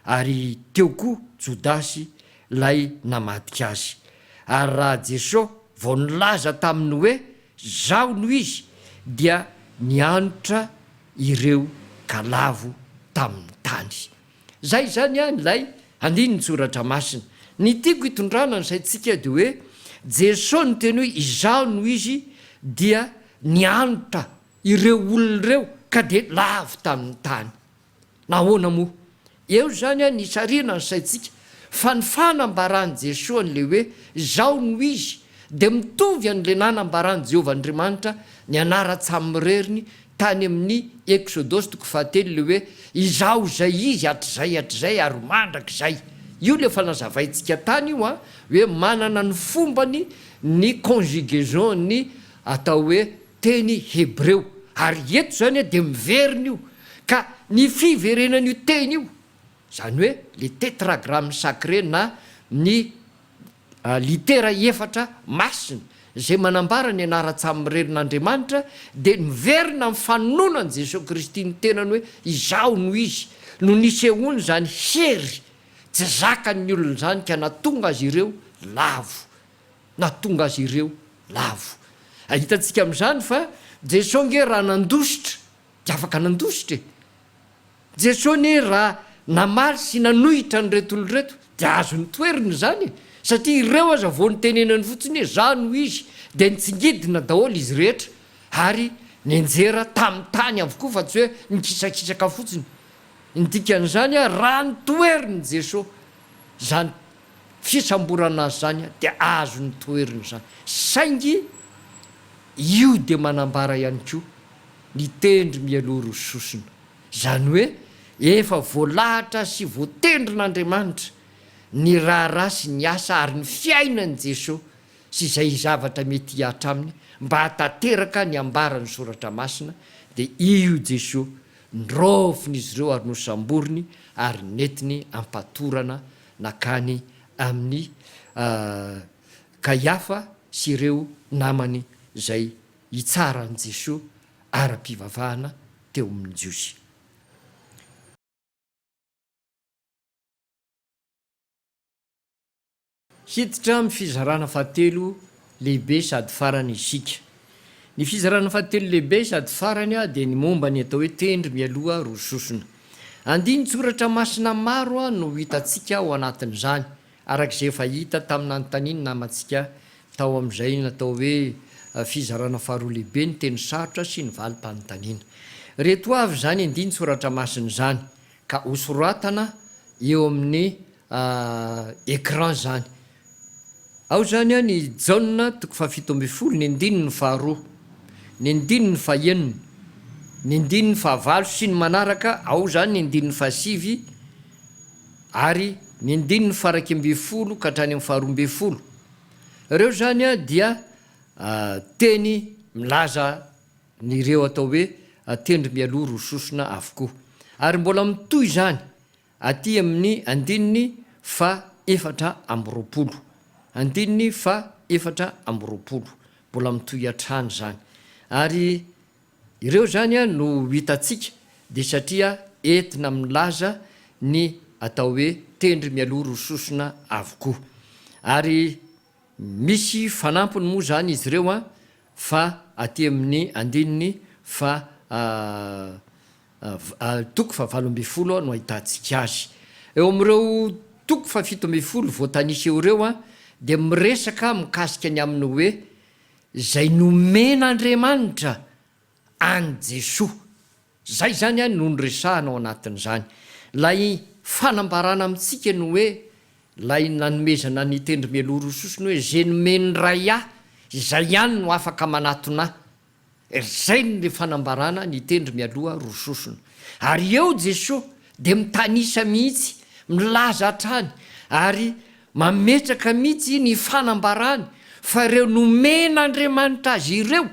Ary teo koa Jodasy lay namadika azy. Ary raha Jesoa vao nilaza taminy hoe Zaho no izy dia nianotra ireo galavo tamin'ny tany. Zay izany any lay andinin-tsoratra masina. Ny tiako hitondrana ny saintsika dia hoe Jesoa niteny hoe Izaho no izy dia nianotra ireo olona ireo ka dia lavo tamin'ny tany. Nahoana moa? Eo izany an ny sarina ny saintsika fa ny fanambaran'i Jesoa an'ilay hoe Izaho no Izy dia mitovy an'ilay nanambaran'i Jehovah Andriamanitra ny anaran-tsamiririny tany amin'ny Eksodosy toko fahatelo ilay hoe Izaho izay Izy hatrizay hatrizay ary mandrakizay. Io ilay efa nazavaintsika tany io an, hoe manana ny fombany ny conjugaison-ny atao hoe teny hebreo, ary eto izany dia miverina io, ka ny fiverenan'io teny io, izany hoe le Tetragramme sacré na ny litera efatra masina izay manambara ny anaran-tsamirenin'Andriamanitra dia niverina amin'ny fanononan'i Jesoa Kristy ny tenany hoe Izaho no Izy, no nisehoany izany hery tsy zakan'ny olona izany ka natonga azy ireo lavo nahatonga azy ireo lavo. Hitantsika amin'izany fa Jesoa ange raha nandositra dia afaka nandositra e! Jesoa anie raha namaly sy nanohitra an'ireto olona ireto dia azony toerina izany e! Satria ireo aza vao nitenenany fotsiny hoe Za no Izy dia nitsingidina daholo izy rehetra ary nianjera tamin'ny tany avokoa fa tsy hoe nikisakisaka fotsiny. Ny dikan'izany, raha notoherin'i Jesoa izany fisamborana azy izany dia azony toherina izany. Saingy io dia manambara ihany koa ny tendry mialoha roa sosona. Izany hoe efa voalahatra sy voatendrin'Andriamanitra ny raharaha sy ny asa ary ny fiainan'i Jesoa sy izay zavatra mety hihatra aminy mba hahatanteraka ny ambaran'ny Soratra Masina dia io Jesoa noraofin'izy ireo ary nosamboriny ary nentiny ampatorana Nankany amin'i Kaiafa sy ireo namany izay hitsara an'i Jesoa ara-pivavahana teo amin'ny Jiosy. Hiditra amin'ny fizarana fahatelo lehibe sady farany isika. Ny fizarana fahatelo lehibe sady farany dia ny momba ny atao hoe tendry mialoha roa sosona. Andinin-tsoratra masina maro no hitantsika ao anatin'izany, araka izay efa hita tamin'ny nanontanian'ny namantsika tao amin'izay natao hoe fizarana faharoa lehibe ny teny sarotra sy ny valim-panontaniana. Ireto avy izany andinin-tsoratra masina izany, ka hosoratana eo amin'ny écran zany. Ao zany an i Jaona toko fahafito ambin'ny folo ny andininy faharoa, ny andininy fahenina, ny andininy fahavalo sy ny manaraka, ao zany ny andininy fahasivy ary ny andininy faharaika ambin'ny folo ka hatrany amin'ny faharoa ambin'ny folo. Ireo zany an dia teny milaza an'ireo atao hoe tendry mialoha roa sosona avokoa. Ary mbola mitohy izany aty amin'ny andininy faha efatra amby roapolo. Andininy faha efatra amby roapolo. Mbola mitohy hatrany izany. Ary ireo izany no hitantsika dia satria entina milaza ny atao hoe tendry mialoha ro sosona avokoa. Ary Misy fanampiny moa izany izy ireo an, fa aty amin'ny andininy faha toko fahavalo ambin'ny folo no ahitantsika azy. Eo amin'ireo toko fahafito ambin'ny folo voatanisa eo ireo an, dia miresaka mikasika ny amin'ny hoe izay nomen'Andriamanitra an'i Jesoa. Izay izany an no niresahana ao anatin'izany. Ilay fanambarana amintsika ny hoe, ilay nanomezana ny tendry mialoha roa sosona hoe, izay nomen'ny Ray ahy, izay ihany no afaka manatona ahy. Izay no fanambarana ny tendry mialoha roa sosona. Ary eo Jesoa dia mitanisa mihitsy, milaza hatrany ary mametraka mihitsy ny fanambarany fa ireo nomen'Andriamanitra azy ireo,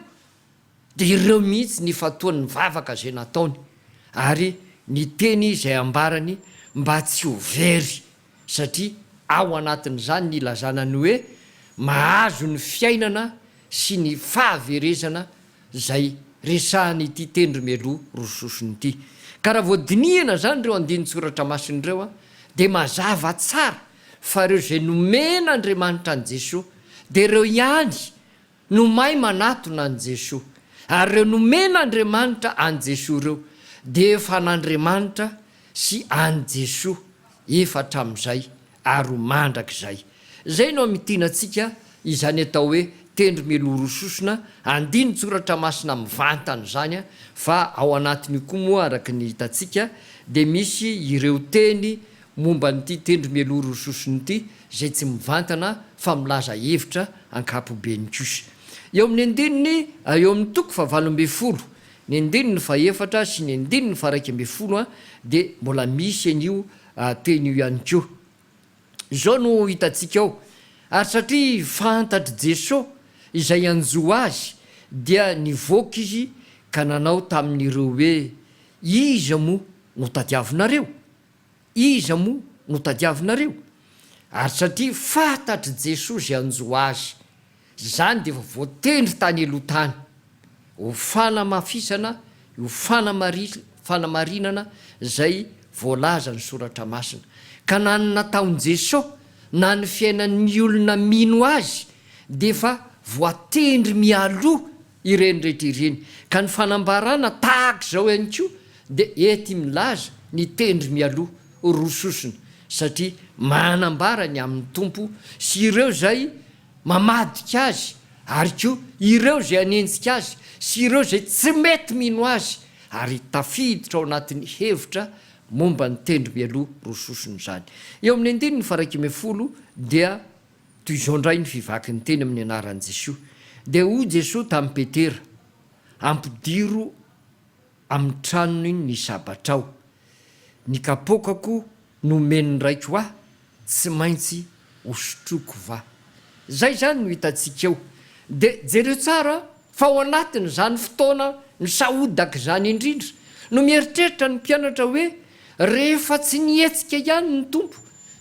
Dia ireo mihitsy nifantoha nivavaka izay nataony ary niteny izay ambarany mba tsy ho very satria ao anatin'izany ny ilazana ny hoe mahazo ny fiainana sy ny fahaverezana izay resahan'ity tendry mialoha roa sosony ity. Ka raha vao dinihina izany ireo andinin-tsoratra masina ireo dia mazava tsara fa ireo izay nomen'Andriamanitra an'i Jesoa dia ireo ihany no mahay manatona an'i Jesoa, ary ireo nomen'Andriamanitra an'i Jesoa ireo dia efa an'Andriamanitra sy an'i Jesoa efa hatramin'izay ary ho mandrakizay. Izay no hamintina antsika izany atao hoe tendro miloro sosona andinin-tsoratra masina mivantana izany, fa ao anatin'io koa moa araka ny hitantsika dia misy ireo teny momba an'ity tendro mialoha sosony ity izay tsy mivantana fa milaza hevitra ankapobeny kosa. Eo amin'ny andininy eo amin'ny toko fahavalo ambin'ny folo, ny andininy fahefatra sy ny andininy faharaika ambin'ny folo dia mbola misy an'io teny io ihany koa. Izao no hitantsika ao, Ary satria fantatr'i Jeso izay hanjo Azy, dia nivoaka Izy ka nanao tamin'ireo hoe, Iza moa no tadiavinareo? Iza moa no tadiavinareo? Ary satria fantatr'i Jesoa izay hanjo azy, izany dia efa voatendry tany aloha tany, ho fanamafisana io fanamarinana izay voalazan'ny Soratra Masina. Ka na ny nataon'i Jesoa, na ny fiainan'ny olona mino Azy dia efa voatendry mialoha ireny rehetra ireny, ka ny fanambarana tahaka izao ihany koa dia ety milaza ny tendry mialoha roa sosona, satria manambara ny amin'ny Tompo sy ireo izay mamadika Azy ary koa ireo izay hanenjika Azy sy ireo izay tsy mety mino Azy, ary tafiditra ao anatin'ny hevitra momba ny tendry mialoha roa sosona izany. Eo amin'ny andininy faharaika ambin'ny folo dia Toy izao indray ny fivakin'ny teny amin'ny anaran'i Jesoa, dia hoy Jesoa tamin'i Petera, Ampidiro amin'ny tranony ny sabatrao. Ny kapoakako nomen'ny Raiko Ahy tsy maintsy hosotroiko va? Izay izany no hitantsika eo. Dia jereo tsara Fa ao anatin'izany fotoana nisahodak'izany indrindra no mieritreritra ny mpianatra hoe, Rehefa tsy nihetsika ihany ny Tompo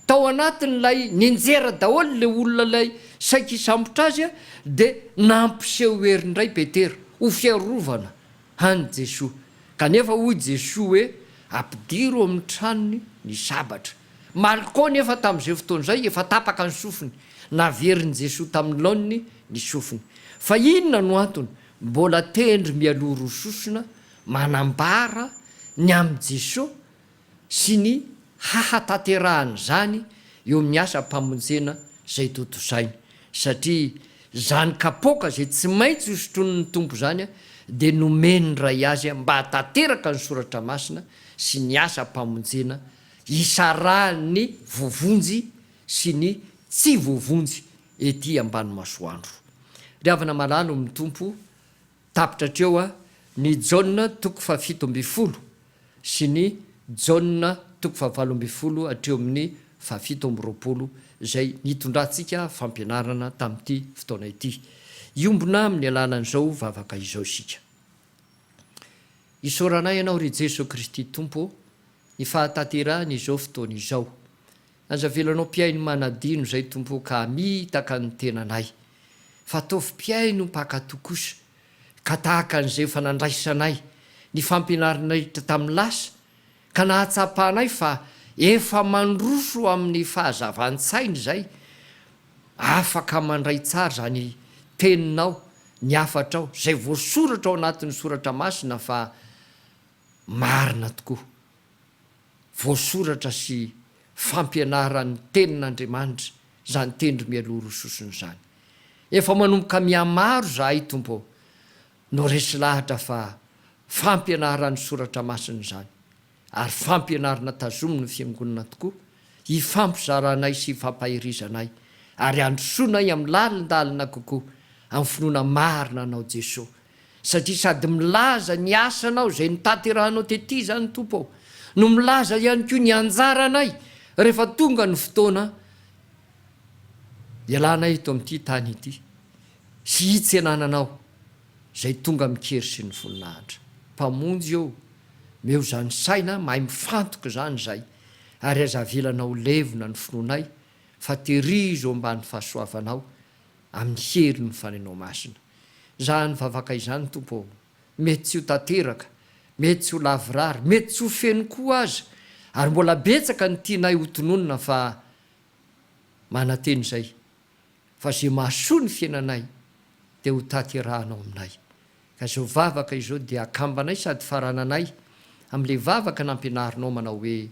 tao anatin'ilay ninjera daholo ilay olona ilay saika hisambotra azy dia nampiseho hery indray Petera ho fiarovana an'i Jesoa. Kanefa hoy Jesoa hoe, Ampidiro ao amin'ny tranony ny sabatra. Malco nefa tamin'izay fotoana izay efa tapaka ny sofiny, naverin'i Jesoa tamin'ny laoniny ny sofiny. Fa inona no antony mbola tendry mialoha roa sosona manambara ny amin'i Jesoa sy ny hahatanterahan'izany eo amin'ny asam-pamonjena izay tontosainy? Satria izany kapoaka izay tsy maintsy hosotronin'ny Tompo izany dia nomen'ny Ray Azy mba hahatanteraka ny Soratra Masina sy ny asam-pamonjena hisarahan'ny voavonjy sy ny tsy voavonjy ety ambany masoandro. Ry havana malalo amin'ny Tompo, tapitra hatreo ny Jaona toko fahafito ambin'ny folo sy ny Jaona toko fahavalo ambin'ny folo hatreo amin'ny fahafito amby roapolo izay nitondrantsika fampianarana tamin'ity fotoana ity. Hiombona amin'ny alalan'izao vavaka izao isika. Isaoranay Ianao, ry Jesoa Kristy Tompo ô, ny fahatanterahan izao fotoana izao. Aza avelanao mpihaino manadino izay Tompo o ka hamitaka ny tenanay. Fa ataovy mpihaino mpankatò kosa, ka tahaka an'izay efa nandraisanay ny fampianarinay tamin'ny lasa, ka nahatsapanay fa efa mandroso amin'ny fahazavan-tsaina izay, afaka mandray tsara izany Teninao, ny hafatrao, izay voasoratra ao anatin'ny Soratra Masina fa Marina tokoa. Voasoratra sy fampianaran'ny Tenin'Andriamanitra izany tendro mialoha roa sosona izany. Efa manomboka mihamaro izahay, Tompo ô, no resy lahatra fa fampianaran'ny Soratra Masina izany, ary fampianarana tazomin'ny Fiangonana tokoa, hifampizaranay sy hifampaherizanay, ary handrosoanay amin'ny lalindalina kokoa amin'ny finoana marina Anao Jesoa. Satria sady milaza ny asanao izay notanterahanao tety izany Tompo ô, no milaza ihany koa ny anjaranay rehefa tonga ny fotoana hialanay eto amin'ity tany ity sy hitsenananao izay tonga amin-kery sy ny voninahitra. Mpamonjy ô, meo izany saina mahay mifantoka izany izay ary aza avelanao ho levona ny finoanay fa terizo ambany fahasoavanao amin'ny herin' ny fanenao masina. Izany vavaka izany, Tompo ô, mety tsy ho tanteraka, mety tsy ho lavorary, mety tsy ho feno koa aza, ary mbola betsaka ny tianay ho tononina fa manantena izay fa izay mahasoa ny fiainanay dia ho tanterahanao aminay. Ka izao vavaka izao dia akambanay sady farananay amin'ilay vavaka nampianarinao manao hoe,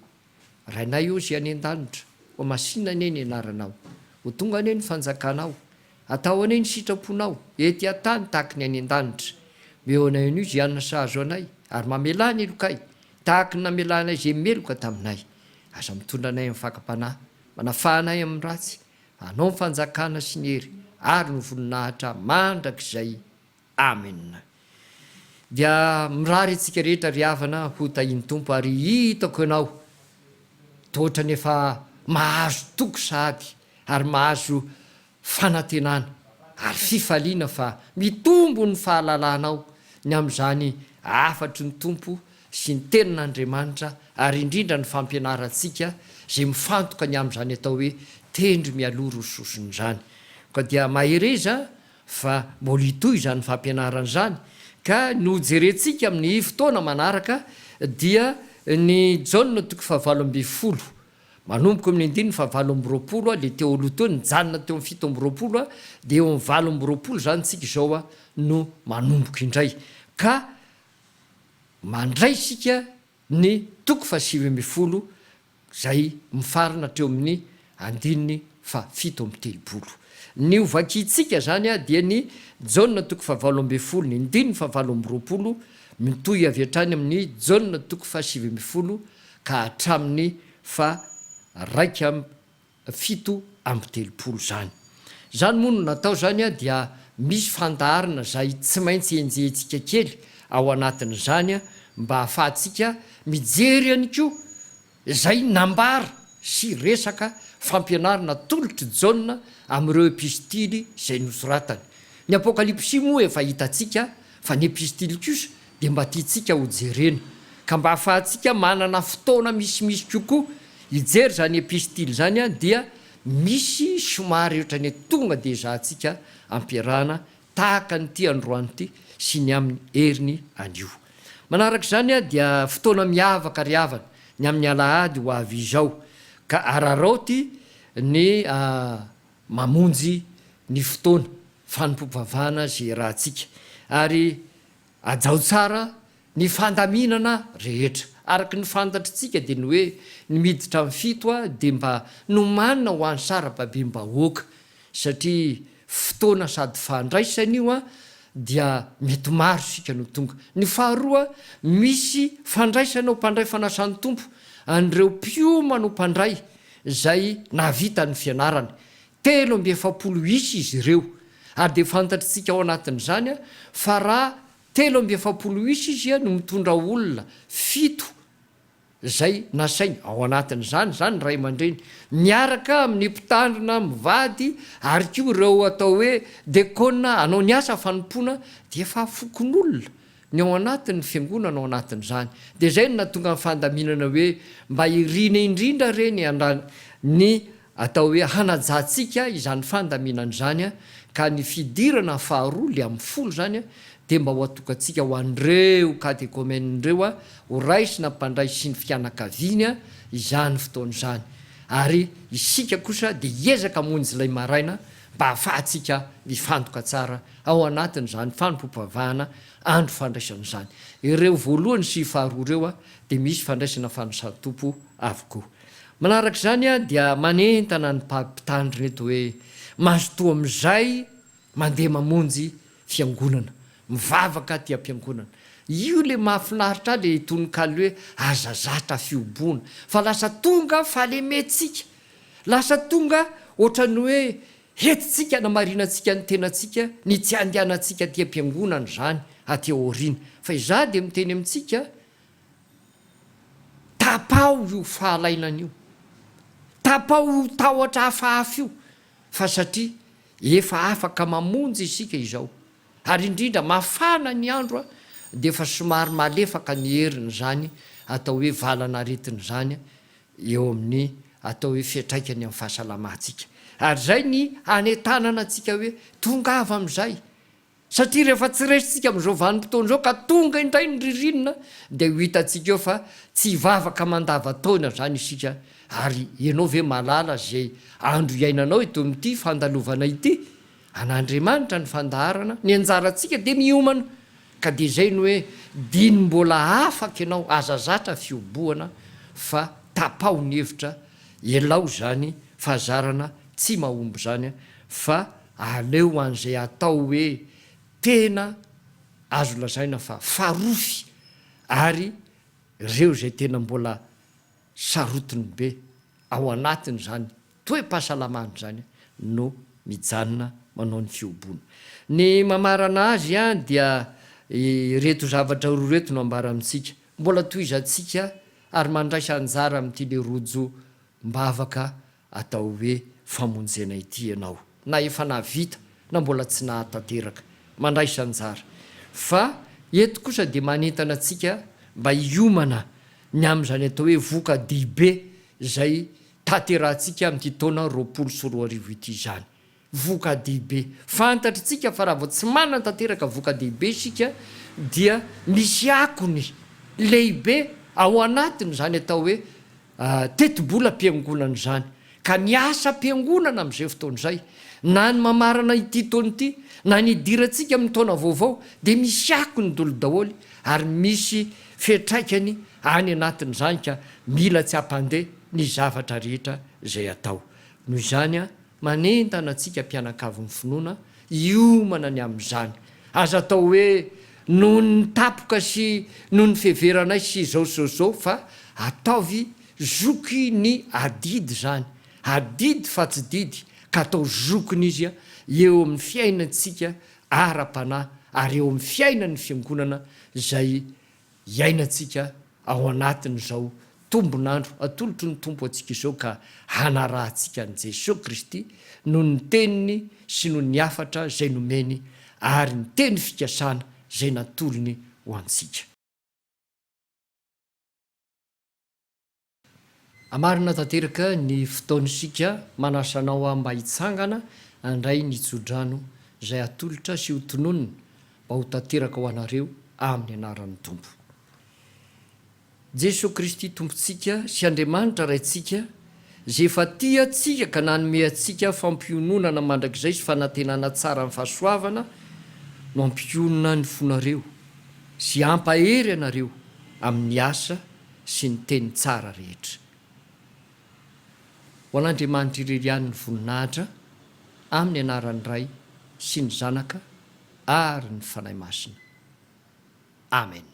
Rainay ô Zay any an-danitra, ho masinina anie ny anaranao, ho tonga anie ny fanjakanao, atao anie ny sitraponao, ety an-tany tahaka ny any an-danitra. Meo anay anio izay hanina sahazo anay, ary mamelà ny helokay, tahaka ny namelanay izay meloka taminay. Aza mitondra anay amin'ny fakam-panahy, manafaha anay amin'ny ratsy, fa anao ny fanjakana sy ny hery ary ny voninahitra mandrakizay. Amen. Dia mirary antsika rehetra ry havana ho tahin'ny Tompo ary hitako ianao toa ohatran'ny efa mahazo toky sahady ary mahazo fanantenana ary fifaliana fa mitombo ny fahalalanao ny amin'izany hafatry ny Tompo sy ny tenin'Andriamanitra ary indrindra ny fampianarantsika izay mifantoka ny amin'izany atao hoe tendry mialoha roa sosona izany. Koa dia mahereza fa mbola hitohy izany fampianarana izany ka ny ho jerentsika amin'ny fotoana manaraka dia ny Jaona toko fahavalo ambin'ny folo manomboka eo amin'ny andininy fahavalo amby roapolo dia teo aloha teo nijanona teo amin'ny fito amby roapolo dia eo amin'ny valo amby roapolo izany isika izao no manomboka indray ka mandray isika Ny toko fahasivy ambin'ny folo izay mifarana hatreo amin'ny andininy fahafito amby telopolo. Ny ho vakintsika izany dia ny Jaona toko fahavalo ambin'ny folo, ny andininy fahavalo amby roapolo, mitohy avy hatrany amin'ny Jaona toko fahasivy ambin'ny folo ka hatramin'ny faha iraika amby fito amby telopolo izany. Izany moa no natao izany dia misy fandaharana izay tsy maintsy enjehintsika kely ao anatin'izany mba ahafahantsika mijery ihany koa izay nambara sy resaka fampianarana atolotr'i Jaona amin'ireo epistily izay nosoratany. Ny Apokalypsy moa efa hitantsika fa ny epistily kosa dia mba tiantsika ho jerena, ka mba ahafahantsika manana fotoana misimisy kokoa hijery izany epistily izany dia misy somary ohatran'ny hoe tonga dia ezahantsika ampiarahana tahaka an'ity androany ity sy ny amin'ny heriny anio. Manaraka izany dia fotoana miavaka ry havana ny amin'ny alahady ho avy izao, ka araraoty ny mamonjy ny fotoana fanompoam-pivavahana izay iarahantsika ary Hajao tsara ny fandaminana rehetra. Araka ny fantatritsika dia ny hoe ny miditra amin'ny fito A dia mba nomanina ho an'ny sarababem-bahoaka satria fotoana sady fandraisana io A dia mety maro isika no tonga. Ny faharoa, misy fandraisana ho mpandray fanasan'ny Tompo an'ireo mpiomana ho mpandray izay nahavita ny fianarany. Telo amby efapolo isa izy ireo, ary dia fantatr'tsika ao anatin'izany fa raha telo amby efapolo isa izy no mitondra olona fito izay nasainy, ao anatin'izany izany ny ray aman-dreny miaraka amin'ny mpitandrina mivady ary koa ireo atao hoe dekôna hanao ny asa fanompoana dia efa fokonolona ny ao anatin'ny fiangonana ao anatin'izany. Dia izay no nahatonga ny fandaminana hoe mba irina indrindra re ny ny Atao hoe hanajantsika izany fandaminana izany ka ny fidirana faharoa le amin'ny folo izany dia mba ho atokantsika ho an'ireo katekomenina ireo ho raisina mpandray sy ny fianakaviany izany fotoana izany ary isika kosa dia hiezaka hamonjy ilay maraina mba hahafahantsika mifantoka tsara ao anatin'izany fanompoam-pivavahana andro fandraisana izany. Ireo voalohany sy faharoa ireo dia misy fandraisana fanasan-tompo avokoa. Manaraka izany dia manentana ny mpag mpitandro ireto hoe mazotoa amin'izay mandeha mamonjy fiangonana, mivavaka aty ampiangonana. Io le mahafinaritra ahy le tononkalo hoe aza zatra fihoboana fa lasa tonga fahalementsika, lasa tonga ohatran'ny hoe hentintsika hanamarinantsika ny tenantsika ny tsy handehanantsika aty ampiangonana izany aty aoriana. Fa izaho dia miteny amintsika Tapaho io fahalainana io, tapaho io tahotra hafahafa io fa satria efa afaka mamonjy isika izao ary indrindra mafana ny andro dia efa somary malefaka ny herin'izany atao hoe valan'aretina izany eo amin'ny atao hoe fiantraikany amin'ny fahasalamantsika ary izay ny hanentanana antsika hoe tongava amin'izay Satria rehefa tsy resintsika amin'izao vanim-potoana izao ka tonga indray ny ririnina dia ho hitantsika eo fa tsy hivavaka mandavan-taona izany isika ary ianao ve mahalala izay andro hiainanao eto amin'ity fandalovana ity? An'Andriamanitra ny fandaharana, ny anjarantsika dia miomana ka dia izay no hoe dino mbola afaka ianao, aza zatra fihobohana fa tapaho ny hevitra, elao izany fahazarana tsy mahomby izany fa aleo an'izay atao hoe tena azo lazaina fa farofy ary reo izay tena mbola sarotiny be ao anatin'izany toe-pahasalamany izany no mijanona manao ny fihoboana. Ny mamarana azy ihany dia ireto zavatra roa ireto no ambara amintsika, mbola tohizantsika ary mandraisa anjara amin'ity le rojo mbavaka atao hoe famonjena ity ianao, na efa nahavita na mbola tsy nahatanteraka, mandraisa anjara. Fa eto kosa dia manentana antsika mba hiomana ny amin'izany atao hoe voka-dehibe izay tanterahantsika amin'ity taona roapolo sy roa arivo ity izany. voka-dehibe. Fantatr'itsika fa raha vao tsy manana tanteraka voka-dehibe isika dia misy akony lehibe ao anatin'izany atao hoe tetibolam-piangonana izany, ka ny asam-piangonana amin'izay fotoana izay, na ny mamarana ity taona ity, na ny hidirantsika amin'ny taona vaovao dia misy akony dolo daholo ary misy fiantraikany any anatin'izany ka mila tsy hampandeha ny zavatra rehetra izay atao. Noho izany. Manentana antsika mpianakavy ny finoana hiomana ny amin'izany. Aza atao hoe noho ny tapoka sy noho ny fiheveranay sy izao sy izao fa ataovy zoky ny adidy izany, adidy fa tsy didy, ka atao zokiny izy eo amin'ny fiainantsika ara-panahy ary eo amin'ny fiainan'ny Fiangonana izay iainantsika ao anatin'izao tombon'andro atolotry ny Tompo antsika izao ka hanarahantsika an'i Jesoa Kristy noho ny teniny sy noho ny hafatra izay nomeny ary ny teny fikasana izay natolony ho antsika. Marina tanteraka ny fotaona isika manasa anao aho mba hitsangana handray ny tsodrano izay atolotra sy ho tononina mba ho tanteraka ho anareo amin'ny anaran'ny Tompo Jesoa Kristy Tompontsika sy Andriamanitra Raintsika izay efa tia antsika ka nanome antsika fampiononana mandrakizay sy fanantenana tsara ny fahasoavana no hampionona ny fonareo sy hampahery anareo amin'ny asa sy ny teny tsara rehetra. Ho an'Andriamanitra irery ihany ny voninahitra, amin'ny anaran'ny Ray sy ny Zanaka ary ny Fanahy Masina. Amen.